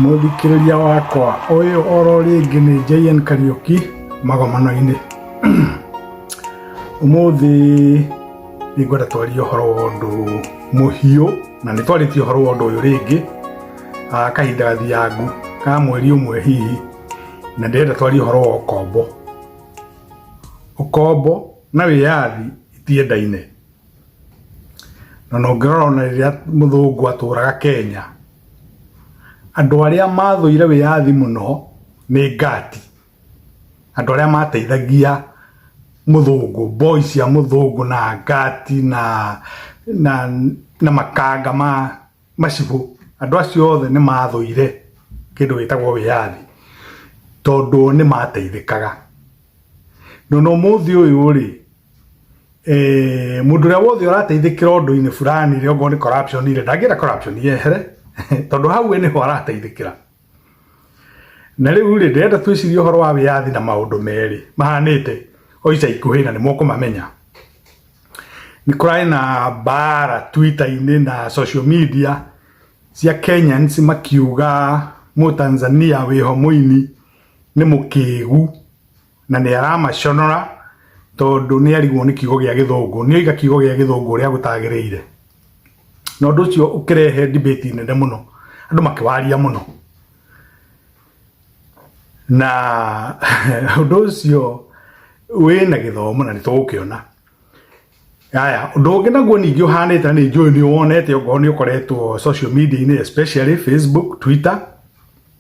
Mũthikĩrĩria wakwa ũyũ oro rĩngĩ nĩ JN Kariũki magomano-inĩ. Ũmũthĩ nĩ ngwenda twarie ũhoro wa ũndũ mũhiũ na nĩ twarĩtie ũhoro wa ũndũ ũyũ rĩngĩ ah, kahinda gathiangu ka mweri ũmwe hihi na ndĩrenda twarie ũhoro wa ũkombo. Ũkombo na wĩyathi itiendaine. na na ũngĩrora ona rĩrĩa mũthũngũ atũraga kenya andũ arĩa mathũire wĩyathi mũno nĩ ngati andũ arĩa mateithagia mũthũngũ boy cia mũthũngũ na ngati na na na makanga ma macibũ andũ acio othe nĩ mathũire kĩndũ gĩtagwo wĩyathi tondũ nĩ mateithĩkaga no na ũmũthĩ ũyũ rĩ eh mundu ria wothe urateithikira undu-ini fulani ri ongorwo ni corruption ri ndangira corruption yehere tondu hau we niho arateithikira na riu ri ndirenda twicirie uhoro wa wiyathi na maundu meri mahanite o ica ikuhi na ni mukumamenya ni kurari na bara twitter-ini na social media cia kenyans makiuga mutanzania wiho muini ni mukigu na nĩ aramaconora tondũ nĩ arigwo nĩ kiugo gĩa gĩthũngũ nĩ oiga kiugo gĩa gĩthũngũ ũrĩa gũtagĩrĩire na ũndũ ũcio ũkĩrehe debate nene mũno andũ makĩwaria mũno na ũndũ ũcio wĩna gĩthomo na nĩ tũgũkĩona Aya, ũndũ ũngĩ naguo ningĩ ũhanĩte na nĩ njũĩ nĩ wonete okorwo nĩ ũkoretwo social media-inĩ especially Facebook, Twitter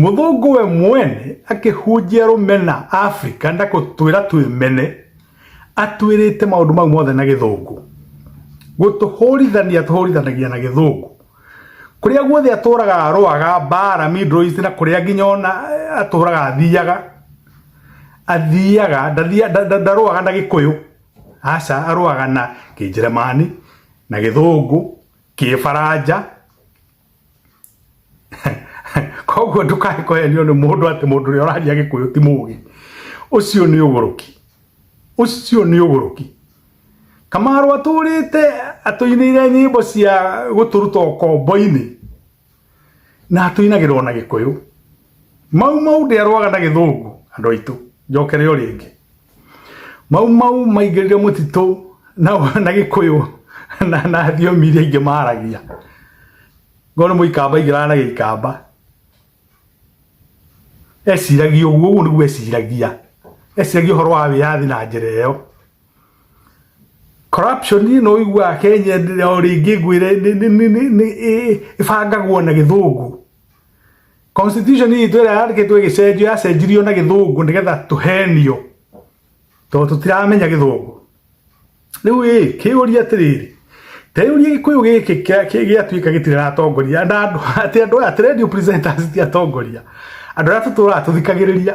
Mũthũngũ we mwene akĩhunjia rũmena Afrika na gũtwĩra twĩmene, atwĩrĩte maũndũ mau mothe na gĩthũngũ. Gũtũhũrithania atũhũrithanagia na gĩthũngũ. Kũrĩa guothe atũraga arũaga mbara Middle East na kũrĩa nginya ona atũraga athiaga athiaga ndarũaga na gĩkũyũ aca arũaga na kĩnjĩrĩmani na gĩthũngũ, kĩbaranja. koguo ndukae kũhenio nĩ mũndũ atĩ mũndũ ũrĩa ũraria gĩkũyũ ti mũũgĩ ũcio nĩ ũgũrũki ũcio nĩ ũgũrũki kamaro atũrĩte atũinĩire nyĩmbo cia gũtũruta ũkombo-inĩ na atũinagĩrwo na gĩkũyũ mau mau ndĩarwaga na gĩthũngũ andũ aitũ njokere o rĩngĩ mau mau maingĩrire mũtitũ na na gĩkũyũ na na thiomi iria ingĩ maragia ngona mũikamba ingĩraga na gĩikamba eciragia ũguo ũguo nĩguo eciragia eciragia ũhoro wa wĩyathi na njĩra ĩyo corruption nĩ ũiguaga kenya o rĩngĩ ngwĩre nĩ- nĩ- nĩ- nĩ- nĩ- ĩ- ĩbangagwo na gĩthũngũ constitution itũ ĩrĩa yandĩkĩtwo ĩgĩcenjio yacenjirio na gĩthũngũ nĩgetha tũhenio tondũ tũtiramenya gĩthũngũ rĩu ĩ kĩũria atĩrĩrĩ teyũria gĩkũyũ gĩkĩ kĩa- kĩ- gĩatuĩka gĩtiraratongoria na andũ atĩ andũ aya atĩ radio presenters ti atongoria andũ arĩa tũtũraga tũthikagĩrĩria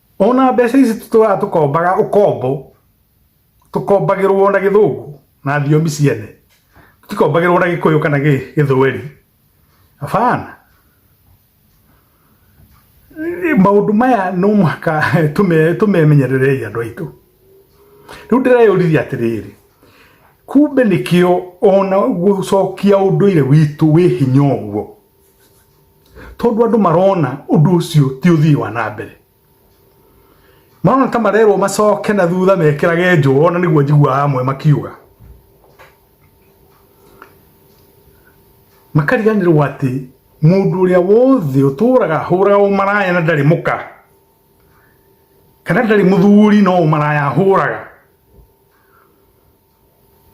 ona mbeca ici tũtũraga tũkombaga ũkombo tũkombagĩrwo na gĩthũngũ na thiomi ciene tikombagĩrwo na gĩkũyũ kana gĩthweri abana maũndũ maya no mũhaka tũmemenyererei andũ aitũ rĩu ndĩreyũririe atĩrĩrĩ kumbe nĩkĩo ona gũcokia ũndũire witũ wĩ hinya ũguo tondũ andũ marona ũndũ ũcio ti ũthii wa na mbere marona ta marerwo macoke na thutha mekĩrage njũo na nĩguo njiguaga amwe makiuga makariganĩrwo atĩ mũndũ ũrĩa wothe ũtũraga ahũraga ũmaraya na ndarĩ mũka kana ndarĩ mũthuri no ũmaraya ahũraga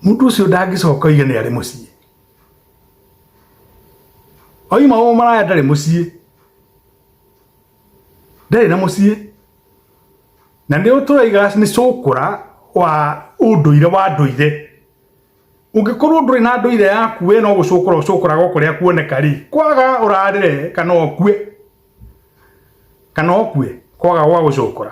Mũndũ ũcio ndangĩcoka oige nĩ arĩ mũciĩ. Oima o maraya ndarĩ mũciĩ. Ndarĩ na mũciĩ. Na nĩ ũtũraiga nĩ cũkũra wa ũndũire wa ndũire. Ũngĩkorwo ndũrĩ na ndũire yaku we no gũcũkũra ũcũkũraga o kũrĩa kuoneka rĩ, kwaga ũrarĩre kana ũkue. Kana ũkue kwaga gwa gũcũkũra.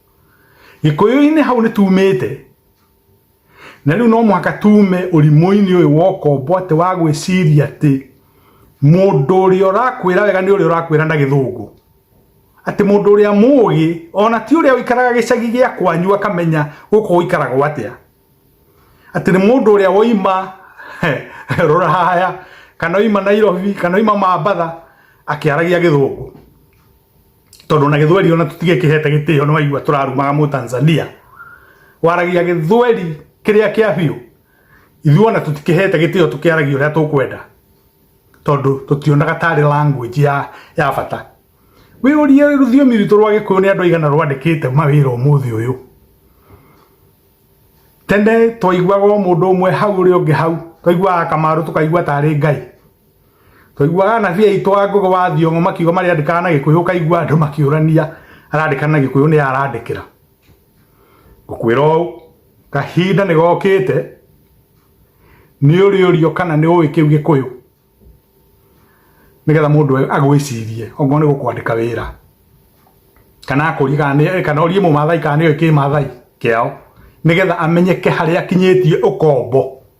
gĩkũyũ-inĩ hau nĩ tumĩte na rĩu no mũhaka tume ũrimũ-inĩ ũyũ wa ũkombo atĩ wa gwĩciria atĩ mũndũ ũrĩa ũrakwĩra wega nĩ ũrĩa ũrakwĩra na gĩthũngũ atĩ mũndũ ũrĩa mũũgĩ ona ti ũrĩa ũikaraga gĩcagi gĩa kwanyu akamenya gũkũ ũikaragwo atĩa atĩ nĩ mũndũ ũrĩa woima rũraya kana oima nairobi kana oima mambatha akĩaragia gĩthũngũ tondu na githweri ona tutige kihete gitio no aigua turarumaga mu Tanzania waragia githweri kiria kia biu ithuĩ ona tũtikĩhete gĩtĩo tũkĩaragia ũrĩa tũkwenda tondũ tũtionaga tarĩ language ya, ya bata wĩ ũrie rũthiomi rwitũ rwa gĩkũyũ nĩ andũ aigana rwandĩkĩte mawĩra ũmũthĩ ũyũ tene twaiguaga o mũndũ ũmwe hau ũrĩa ũngĩ hau twaiguaga kamarũ tũkaigua tarĩ ngai Twaiguaga anabii aitũ a ngũgĩ wa Thiong'o makiuga marĩa andĩkaga na Gĩkũyũ ũkaigua andũ makĩũrania arandĩka na Gĩkũyũ nĩ arandĩkĩra. Ngũkwĩra ũũ kahinda nĩ gokĩte nĩ ũrĩũrio kana nĩ ũĩ kĩu Gĩkũyũ nĩgetha mũndũ agwĩcirie okorwo nĩ gũkwandĩka wĩra kana akũrie kana nĩ kana orie mũmathai kana nĩ oĩ kĩmathai kĩao nĩgetha amenyeke harĩa akinyĩtie ũkombo.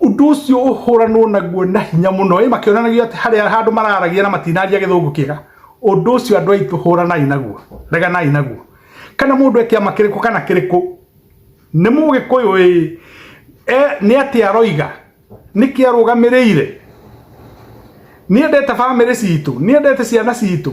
ũndũ ũcio ũhũranwo naguo na hinya mũno ĩ makĩonanagia atĩ harĩa handũ mararagia na matinaria gĩthũngũ kĩega ũndũ ũcio andũ aitũ hũranai naguo reganai naguo kana mũndũ ekĩama kĩrĩkũ kana kĩrĩkũ nĩ mũgĩkũyũ ĩ nĩ atĩ aroiga nĩkĩ arũgamĩrĩire nĩ endete bamĩrĩ citũ nĩ endete ciana citũ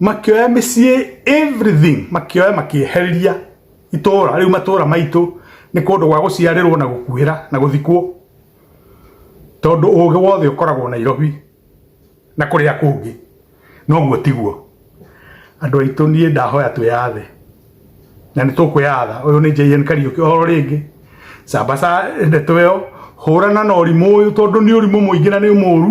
makĩoya mĩciĩ everything makĩoya makĩeheria itũra rĩu matũra maitũ nĩ kũndũ gwa gũciarĩrwo na gũkuhĩra na gũthikwo tondũ ũgĩ wothe ũkoragwo Nairobi na kũrĩa kũngĩ noguo tiguo andũ aitũ niĩ ndahoya twĩyathe na nĩ tũkwĩyatha ũyũ nĩ JN Kariũki o rĩngĩ sambaca ndeto ĩyo hũrana na ũrimũ ũyũ tondũ nĩ ũrimũ mũingĩ na nĩ mũru